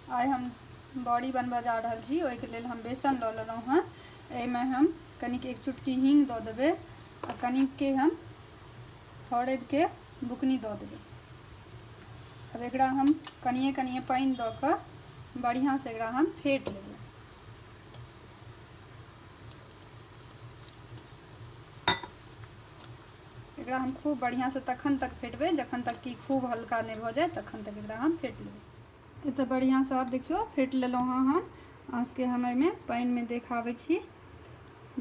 आइ हम बड़ी बनबऽ जा रहल छी ओहिके लेल हम बेसन लऽ लेलहुँ हँ एहिमे हम कनिक एक चुटकी हींग दऽ देबै आ कनिकके हम हरदिके बुकनी दऽ देबै अब एकरा हम कनिए कनिए पानि दऽ कऽ बढ़िआँसँ एकरा हम फेट लेबै एकरा हम खूब बढ़िआँसँ तखन तक फेटबै जखन तक कि खूब हल्का नहि भऽ जाय तखन तक एकरा हम फेट लेबै ई तऽ बढ़िआँसँ आब देखियौ फेट लेलहुँ हँ हम अहाँसभके हम एहिमे पानिमे देखाबै छी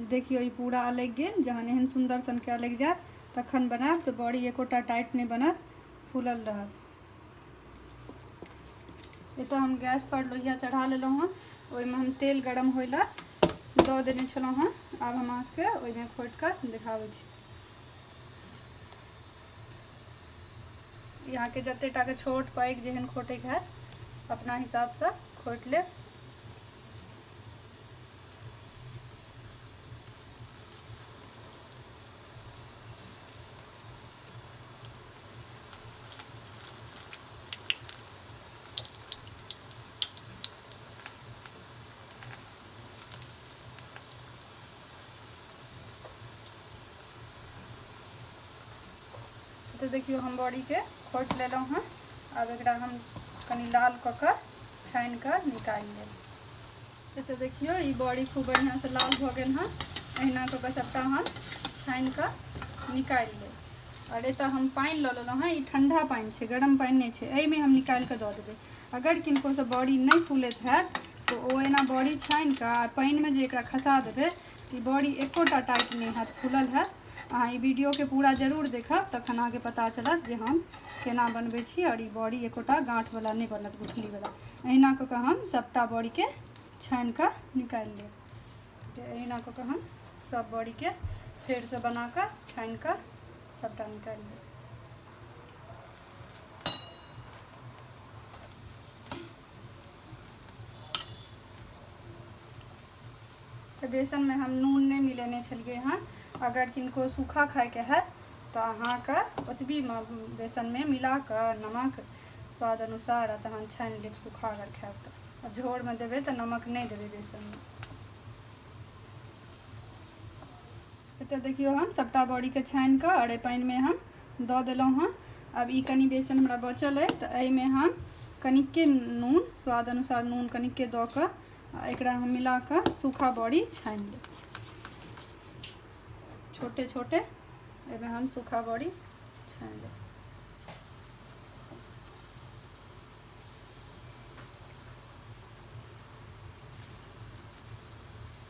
देखियौ ई पूरा अलगि गेल जहन एहन सुन्दर सनके अलगि जायत तखन बनायब तऽ बड़ी एकोटा टाइट नहि बनत फूलल रहत एतऽ हम गैसपर लोहिया चढ़ा लेलहुँ हँ ओहिमे हम तेल गरम होय लए दऽ देने छलहुँ हँ आब हम अहाँसभके ओहिमे खोटि कऽ देखाबै छी ई अहाँके जतेक टाके छोट पैघ जेहन खोटैके हैत अपना हिसाबसँ खोटि लेब तऽ देखियौ हम बड़ीके खोटि लेलहुँ हँ आब एकरा हम कनि लाल कऽ कऽ छानि कऽ निकालि लेब तऽ देखियौ ई बड़ी खूब बढ़िआँसँ लाल भऽ गेल हँ अहिना कऽ कऽ सभटा हम छानि कऽ निकालि लेब आओर एतऽ हम पानि लऽ लेलहुँ हँ ई ठण्डा पानि छै गरम पानि नहि छै एहिमे हम निकालि कऽ दऽ देबै अगर किनकोसँ बड़ी नहि फूलैत हैत तऽ ओ एना बड़ी छानि कऽ आ पानिमे जे एकरा खसा देबै ई बड़ी एकोटा टाइट नहि हैत खुलल हैत अहाँ ई वीडियोके पूरा जरूर देखब तखन अहाँके पता चलत जे हम केना बनबै छी आओर ई बड़ी एकोटा गाँठवला नहि बनत गुठलीवला अहिना कऽ कऽ हम सभटा बड़ीके छानि कऽ निकालि लेब अहिना कऽ कऽ हम सभ बड़ीके फेरसँ बना कऽ छानि कऽ सभटा निकालि लेब तऽ बेसनमे हम नून नहि मिलेने छलियै हँ अगर किनको सूखा खायके हैत तऽ अहाँके ओतबी बेसनमे मिला कऽ नमक स्वाद अनुसार आ तहन छानि लेब सूखा अगर खायब तऽ झोरमे देबै तऽ नमक नहि देबै बेसनमे एतऽ देखियौ हम सभटा बड़ीके छानि कऽ अरे पानिमे हम दऽ देलहुँ हँ आब ई कनि बेसन हमरा बचल अइ तऽ एहिमे हम कनिके नून स्वाद अनुसार नून कनिके दऽ कऽ आ एकरा हम मिला कऽ सूखा बड़ी छानि लेब छोटे छोटे एहिमे हम सूखा बड़ी छानि लेब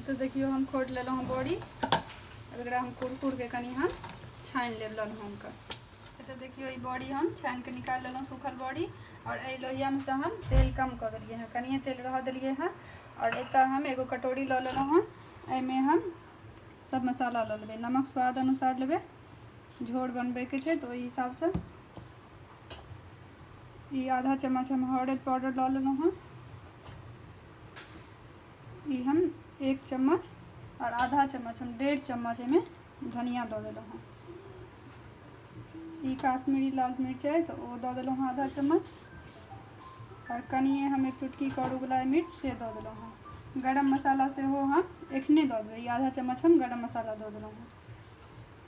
तऽ देखियौ हम खोटि लेलहुँ हँ बड़ी एकरा हम कुरकुरके कनि हम छानि लेब ललहुँके तऽ देखियौ ई बड़ी हम छानि कऽ निकालि लेलहुँ सूखल बड़ी आओर एहि लोहियामे से हम तेल कम कऽ देलियै हँ कनिए तेल रहऽ देलियै हँ आओर एतऽ हम एगो कटोरी लऽ लेलहुँ हँ एहिमे हम सब मसाला लऽ लेबै नमक स्वाद अनुसार लेबै झोर बनबैके छै तऽ ओहि हिसाबसँ ई आधा चम्मच हम हरद पाउडर लऽ लेलहुँ हँ ई हम एक चम्मच आओर आधा चम्मच हम डेढ़ चम्मच एहिमे धनिया दऽ देलहुँ हँ ई काश्मीरी लाल मिरचाइ तऽ ओ दऽ देलहुँ हँ आधा चम्मच आओर कनिए हम एक चुटकी करूवला मिर्च से दऽ देलहुँ हँ गरम मसाला सेहो हम एखने दऽ देबै ई आधा चम्मच हम गरम मसाला दऽ देलहुँ हँ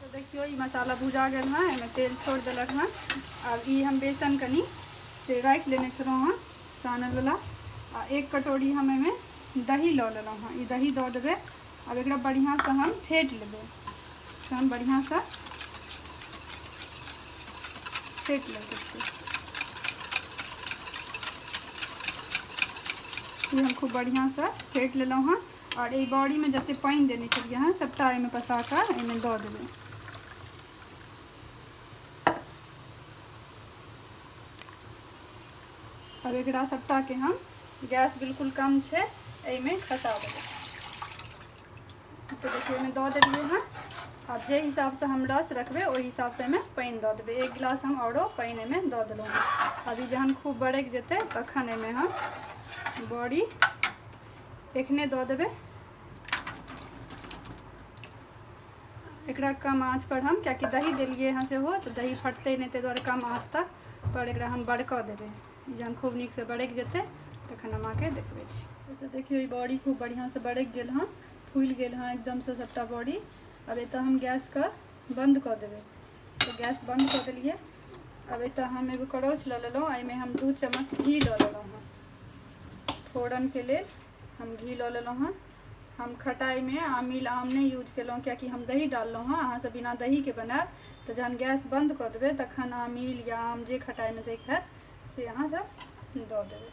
तो देखियो ये मसाला भुजा गल हाँ एम तेल छोड़ दिलक हाँ अब ये हम बेसन कनी से राख लेने छो हाँ सानल वाला आ एक कटोरी हम एम दही लऽ लेलहुँ हाँ ये दही दऽ देवे अब एक बढ़िया से हम फेट लेबे से हम बढ़िया से फेट लेबे ये हम खूब बढ़िया से फेट लेलहुँ हाँ आओर एहि बड़ीमे जतेक पानि देने छलियै हँ सभटा एहिमे पसा कऽ एहिमे दऽ देबै आओर एकरा सभटाके हम गैस बिल्कुल कम छै एहिमे खसा देबै तऽ देखियौ एहिमे दऽ देलियै हँ आब जे हिसाबसँ हम रस रखबै ओहि हिसाबसँ एहिमे पानि दऽ देबै एक गिलास हम आओरो पानि एहिमे दऽ देलहुँ अभी जहन खूब बरकि जेतै तखन एहिमे हम बड़ी एखने दऽ देबै एकरा कम आँच पर हम कियाकि दही देलियै हँ सेहो तऽ दही फटतै नहि ताहि दुआरे कम आँच तक पर एकरा हम बड़कऽ देबै जहन खूब नीकसँ बड़कि जेतै तखन हम अहाँके देखबै छी तऽ देखियौ ई बड़ी खूब बढ़िआँसँ बड़कि गेल हँ फूलि गेल हँ एकदमसँ सभटा बड़ी आब एतऽ हम गैसके बन्द कऽ देबै तऽ गैस बन्द कऽ देलियै अब एतऽ हम एगो करौछ लऽ लेलहुँ एहिमे हम दू चम्मच घी लऽ लेलहुँ हँ फोरनके लेल हम घी लऽ लेलहुँ हँ हम खटाइमे आमिल आम नहि यूज केलहुँ कियाकि हम दही डाललहुँ हँ अहाँसभ बिना दहीके बनायब तऽ जहन गैस बन्द कऽ देबै तखन आमिल या आम जे खटाइमे दैके हैत से अहाँसभ दऽ देबै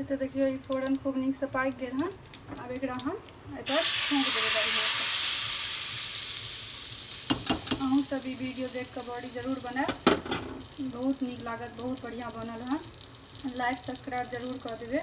एतऽ देखियौ ई फोरन खूब नीकसँ पाकि गेल हन आब एकरा हम एहिपर छौँक देबै बढ़िआँसँ अहूँ सब ई वीडियो देख कऽ बड़ी जरूर बनायब बहुत नीक लागत बहुत बढ़िआँ बनल हन लाइक सब्सक्राइब जरूर कऽ देबै